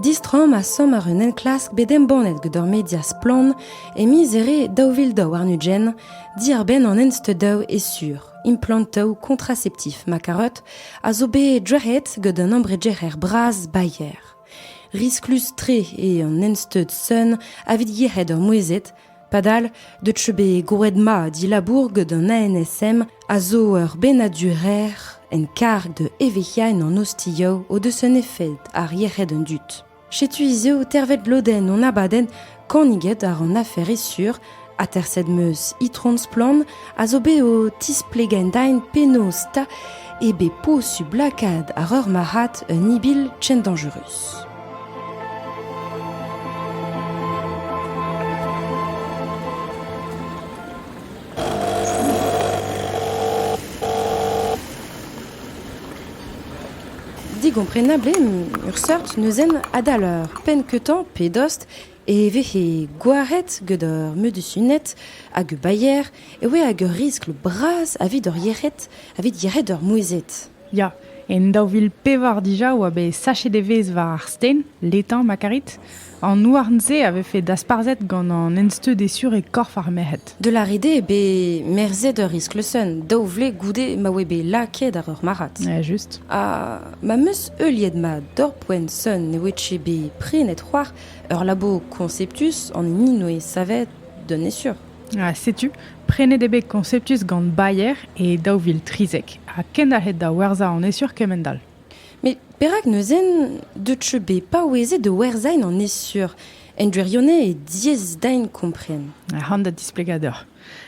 Distroomp a-samm àr un enklask bet embannet gant ur media splann e miz Here daou vil daou warn-ugent diàr-benn an ensteudaoù e-sur. Implantoù kontraseptif ma karoot a zo bet drec'het gant un embregerer bras Bayer. Risklus-tre eo an ensteud sun avit yec'hed ur mouezhet Padal, deut eo bet goured-mat dilabour gant an ANSM a zo ur bennadur-rer en karg da evezhiañ an ostioù o deus un efed ar yec'hed an dud. Setu hiziv tervet lodenn hon abadenn Kaniget ar an afer sur, aterset meus Itron Splann a zo bet o tisplegañ dain penaos ta eo bet posubl lakaat ar ur marc'had un ibil ken danjerus. Digomprenabl eo ur seurt neuzenn adal ur penn-keutañ pe dost e vehe gwaret gant ur medusuned hag ur bailher e oe hag ur riskl bras evit hor yec'hed evit yec'hed ur mouezhed. Ya, en daou vil pevar dija oa bet sachet evezh war ar sten, letañ ma karit. An houarn-se a vefe dasparzhet gant an ensteud esur e korf ar merc'hed. De la ride eo bet merzhet ur iskleuzsenn daou vlez goude ma oe bet lakaet ar ur marc'had. Ja, just. Ha ma 'm eus heuliet mat dorpoenn Sun ne oe ket bet prenet c'hoar ur labour konseptus an hini 'noe savet d'un esur. Ha setu, prenet eo bet Conceptus gant Bayer e daou vil trizek ha kendalc'het da werzhañ an esur kement-all. Met perak neuze deut teu bet paouezet da werzhañ an esur en gwirionez eo diaes din kompren. Ac'han da displegañ deoc'h.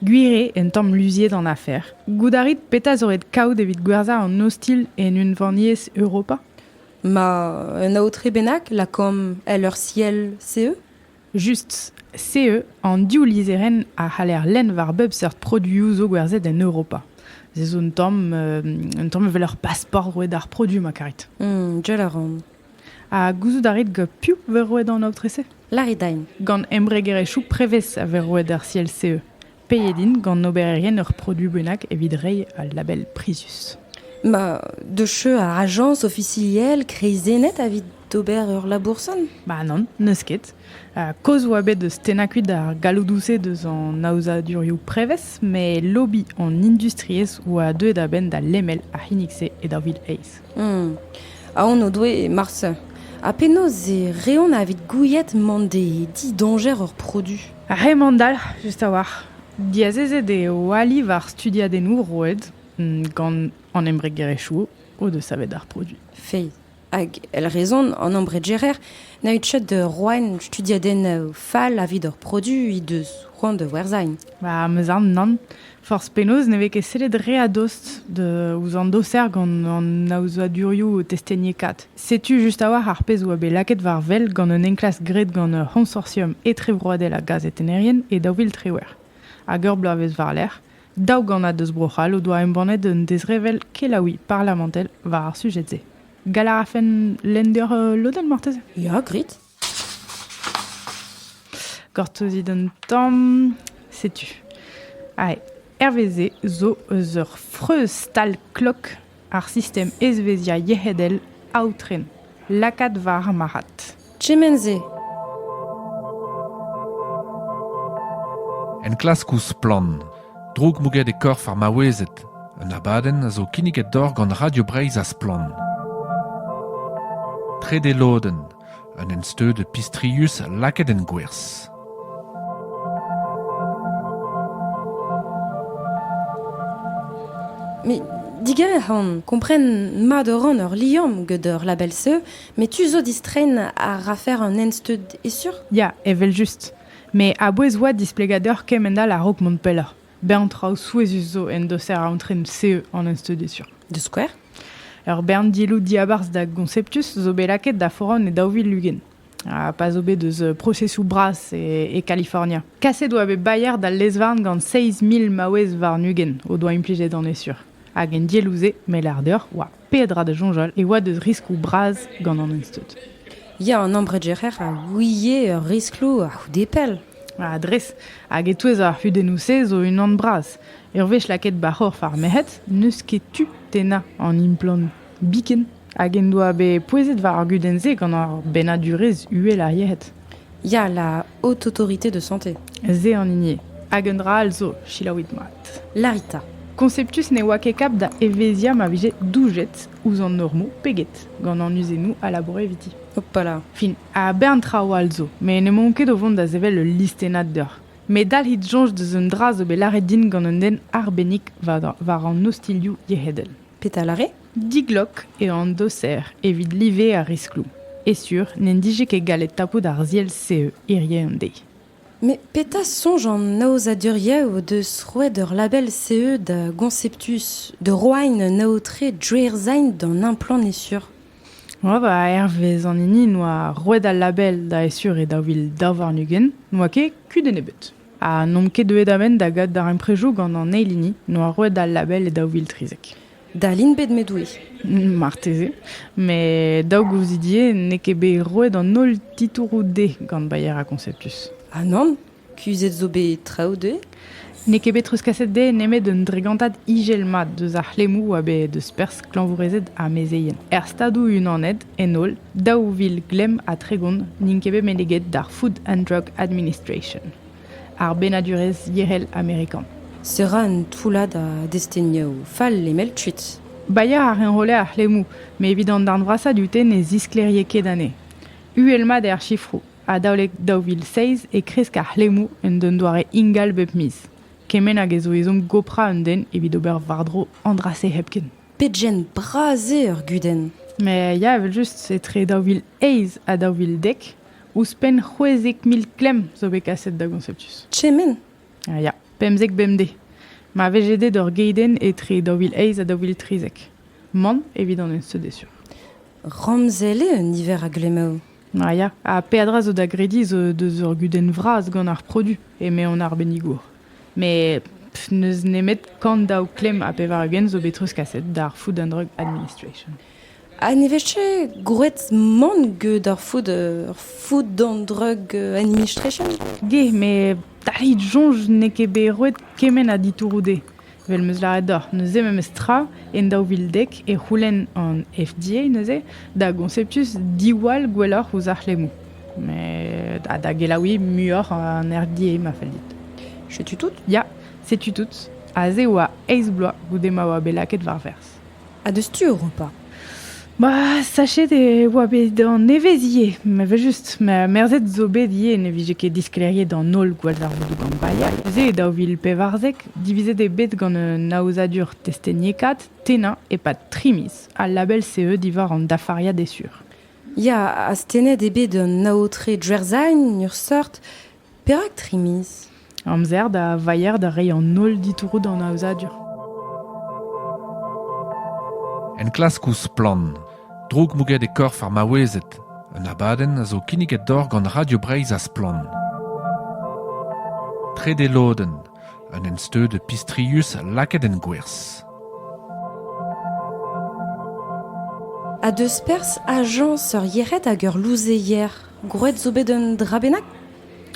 Gwir eo un tamm luziet an afer. Goût a rit petra zo ret kaout evit gwerzhañ an ostilh en unvaniezh Europa? Ma, un aotre bennak, lakaomp el ur siell, CE? Just SEE an div lizherenn a c'haller lenn war bep seurt produioù zo gwerzhet en Europa. Se zo un tamm, un tamm evel ur pasport roet d'ar produoù ma karit. Mmh, jell a ran. Ha gouzout a rit piv vez roet an aotre-se? Larry Dine. Gant embregerezhioù prevez a vez roet ar CLCE. Peet int gant obererien ur produoù bennak evit reiñ al label prizius? Ma, de cheu a ajañs ofisiel kreizennet evit ober ur laboursant? Ba nann, n'eus ket. Kaoz 'oa bet deus tennañ kuit ar galloudoù-se deus an aozadurioù prevez, met lobby an industriezh 'oa deuet a-benn da lemel ar c'hinnig-se e daou vil eizh. Aon o doe marse. Ha penaos e reont evit gouiet mont d'e didoñjer ur produoù? Ar c'hemandalc'h just a-walc'h. Diazezet eo ali war studiadennoù roet gant an embregerezhioù o deus savet ar produiñ. Fae. Hag èl rezon an embregerer na out chet da roen studiadennoù fall evit hor produiñ he deus c'hoant da werzhañ. Ba 'm eus aon nann. Forzh penaos ne vez ket sellet re a-dost ouzh an doser gant an aozadurioù testeniekaat. Setu just a-walc'h ar pezh a oa bet lakaet war wel gant un enklask graet gant ur c'honsortium etrevroadel a gazetennerien e daou vil triwec'h hag ur bloavezh war-lerc'h. Daou gannad eus Bro-C'hall o doa embannet un dezrevell kelaouiñ parlamentel war ar sujed-se. Gall a rafen lenn deoc'h lodenn marteze? Ya, grit. Gortozit an tamm. Setu. Ae. Herveze zo eus ur freuz-stal-klok ar sistem ezveziañ yec'hedel aotren. Lakaat war ar marc'had. Kement-se. Enklaskoù splann. Droukmouget e korf ar maouezed. Un abadenn a zo kinniget doc'h gant Radio Breizh ha Splann. Trede lodenn. Un ensteud pistrius lakaet en gwerzh. Mais diger on, kompren mat a ran ur liamm gant ur label-se, met tu zo distrein a rafer un ensteud esur? Ya, evel-just. Met a-bouez oa displegadur kement all a-raok mont pelloc'h. Bern traoù souezhus zo en doser aontren CE an enstudezioù. Da skouer? Ur bern dielloù diabarzh da Gonceptus zo bet lakaet da foran e daou vil ugent, ha pa zo bet eus prosesoù bras e Kalifornia. Kaset oa bet Bayer d'al lez-varn gant seizh mil maouez warn-ugent o doa implijet an esur, hag en dielloù-se, me lâr deoc'h, oa peadra da soñjal e oa deus riskloù bras gant an Unstud. Ya, an ambredjerer a ouie ur riskloù a-c'houde pell. Ha dres, hag e-touez ar c'hudennoù-se zo unan bras. Ur wech lakaet ba c'horf ar merc'hed, n'eus ket tu tennañ an implant biken hag en doa bet pouezet war ar gudenn-se gant ar bennadurezh uhel ar yec'hed. Ya, la haute autorité de santé. Se an hini. Hag un dra all zo, selaouit mat. Larita. Conceptus ne oa ket kap da evezhiañ ma vije doujet ouzh an normoù peget gant an uzennoù a laboure eviti. Hopala. Fin, a bern traoù all zo, met n'emaon ket o vont da sevel ul listennad deoc'h. Met dalc'hit soñj deus un dra zo bet lâret din gant un den arbennik war an ostilhoù yec'hedel. Petal a rê? Diglok eo an doser evit live ar riskloù, e sur n'en dije ket gallet tapout ar ziell-se hirie un deiz. Met petra soñj an aozadurioù deus roet ur label CE da Gonceptus, da roain un aotre dre-ersain d'an implant e sur? Oa va hervez an hini noa roet al label da e sur e daou vil daou warn-ugent, n'oa ket kudenn ebet. Ha n'omp ket deuet a-benn da gad darempredoù gant an eil hini noa roet al label e daou vil trizek. Dalin bet met oui. Marteze. Met daou gouzidie n'eo ket bet roet an holl titouroù dezhe gant Bayer ha Conceptus. Ah nann, kuzhet zo bet traoù dezhe N'eo ket bet treuzkaset dezhe nemet un dregantad ijel mat deus ar c'hlemmoù a bet deus perzh klañvourezed ha mezeien. Er Stadoù-Unanet En holl, daou vil glemm ha tregont n'int ket bet meneget d'ar Food and Drug Administration, ar bennadurezh yec'hel amerikan. Se ra un toullad a destenioù fall lemel kuit. Bailhañ a reñrolle ar c'hlemmoù, met evit an darn vrasañ dute ne zisklêrie ket anezhe. Uhel-mat eo ar sifroù. Adalek daou vil seizh e kresk ar c'hlemmoù en un doare ingal bep miz, kement hag ez zo ezhomm goprañ un den evit ober war-dro an dra-se hepken. Pegen bras eo ur gudenn! Met ya, evel-just, etre daou vil eizh ha daou vil dek, ouzhpenn c'hwezek mil klemm zo bet kaset da Gonceptus. Kement! Ah, ya, pemzek bemdez. Ma vije ded ur geidenn etre daou vil eizh ha daou vil trizek. Man evit an enseud sur. Ramzel eo un niver a glemmaoù. Ah, ya, ha peadra zo da grediñ zo deus ur gudenn vras gant ar produ, eme an arbennigour. Met n'eus nemet kant daou klemm ha pevar-ugent zo bet treuzkaset d'ar Food and Drug Administration. Ha ne vez ket gwraet mann get ar food, ar Food and Drug Administration? Ge, met taillit soñj n'eo ket bet roet kement a ditouroù dezhe. Vel 'meus lâret deoc'h, neuze memestra en daou vil dek e c'houlenn an FDA neuze da Gonceptus diwall gwelloc'h ouzh ar c'hlemmoù. Met ha da gelaouiñ muioc'h an RDA ma fell dit. Setu tout? Ya, setu tout. Aze e oa eizh bloaz goude ma oa bet lakaet war-verzh. Ha deus tu Europa ? Ma, sachet e oa bet an nevez ivez, evel-just. Merzet zo bet ivez ne vije ket disklêriet an holl gwallzarvoudoù gant Bayer. Neuze, e daou vil pevarzek, divizet eo bet gant un aozadur testeniekaat tennañ e-pad tri miz. Al label CE diwar an dafariad eo sur. Ya, astennet eo bet an aotre Djerzhain, en ur seurt, Perak tri miz ? Amzer da vailhañ da reiñ an holl ditouroù d'an aozadur. Enklaskoù splann. Droukmouget e korf ar maouezed. Un abadenn a zo kinniget deoc'h gant Radio Breizh ha Splann. Trede lodenn. Un ensteud pistrius lakaet en gwerzh. A deus perzh ajañs ur yec'hed hag ur louzeier. Gwraet zo bet un dra bennak?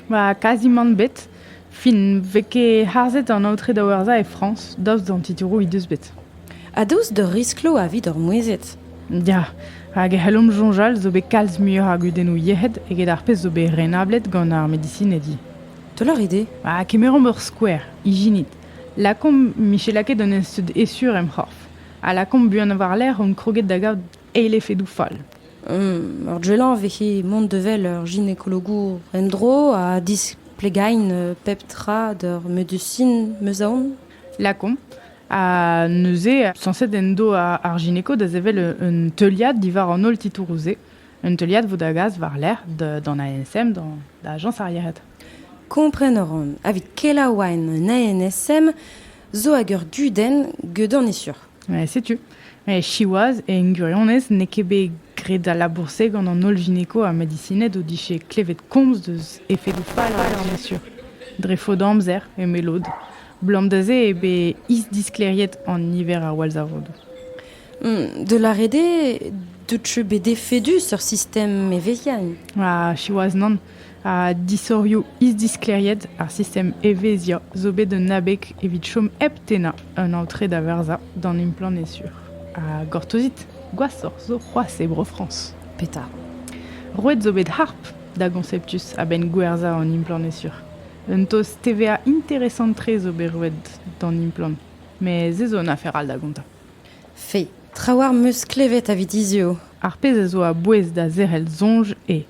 Ba, kazimant bet. Fin, vez ket harzet an aotre da werzhañ e Frañs, daoust d'an titouroù he deus bet. Ha daoust d'ur risklo evit hor mouezhed? Ya, hag e c'hellomp soñjal zo bet kalz muioc'h a gudennoù yec'hed eget ar pezh zo bet renablet gant ar medisinedi. Toloc'h eo dezhe? Ha kemeromp ur skouer, ijinit. Lakaomp Michela ket d'un ensteud esur em c'horf. Ha lakaomp buan war-lerc'h hon kroget da gaout eilefedoù fall. Ur gelañ vehe mont da wel ur ginekologour en-dro ha displegain pep tra d'ur medusin 'meus aon. Lakaomp. Ha neuze, sañset en do ar gineko da sevel un teuliad diwar an holl titouroù-se. Un teuliad vo da gas war-lerc'h d'an ANSM, da ajañs ar yec'hed. Kompren a ran, evit kelaouain un ANSM, zo hag ur gudenn, geudon eo sur. Setu, siwazh, en gwirionez n'eo ket bet graet al labour-se gant an holl gineko ha medisined o dije klevet komz deus efedoù fall ar viziadur. Dre faot amzer, eme lod. Blam da se eo bet isdisklêriet an niver a wallzarodoù. Hmm, de la rede, deut bet efedus ur sistem evezhiañ. Ah, siwazh nann. ha disorioù isdisklêriet ar sistem evezhiañ zo bet un abeg evit chom hep tennañ un aotre da verzañ d'an implant sur. Ha gortozit, gwashoc'h zo c'hoazh e Bro-Frañs. Petra? Roet zo bet harp da Gonceptus a-benn gwerzhañ an implant sur. Un tost TVA interesant-tre zo bet roet d'an implant, met se zo un afer all da gontañ. Fe, traoù am eus klevet evit hiziv. Ar pezh a zo a-bouez da zerc'hel soñj eo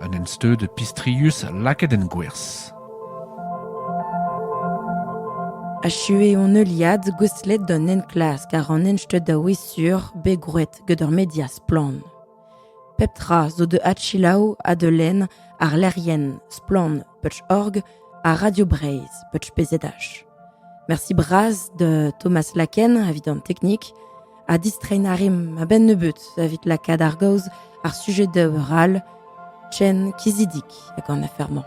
Un ensteud pistrius lakaet en gwerzh. Achuet hon heuliad gouestlet d'an enklask àr an ensteud a-wezh-sur bet gwraet gant ur media splann. Pep tra zo da adselaou ha da lenn àr lec'hienn Splann Peuch.org ha Radio Breizh, Peuch.pz. Merci bras de Thomas Laken evit an teknik ha distrein a rim a-benn nebeut evit lakaat ar gaoz ar sujet de ral Chen Kizidik hag an afermañ.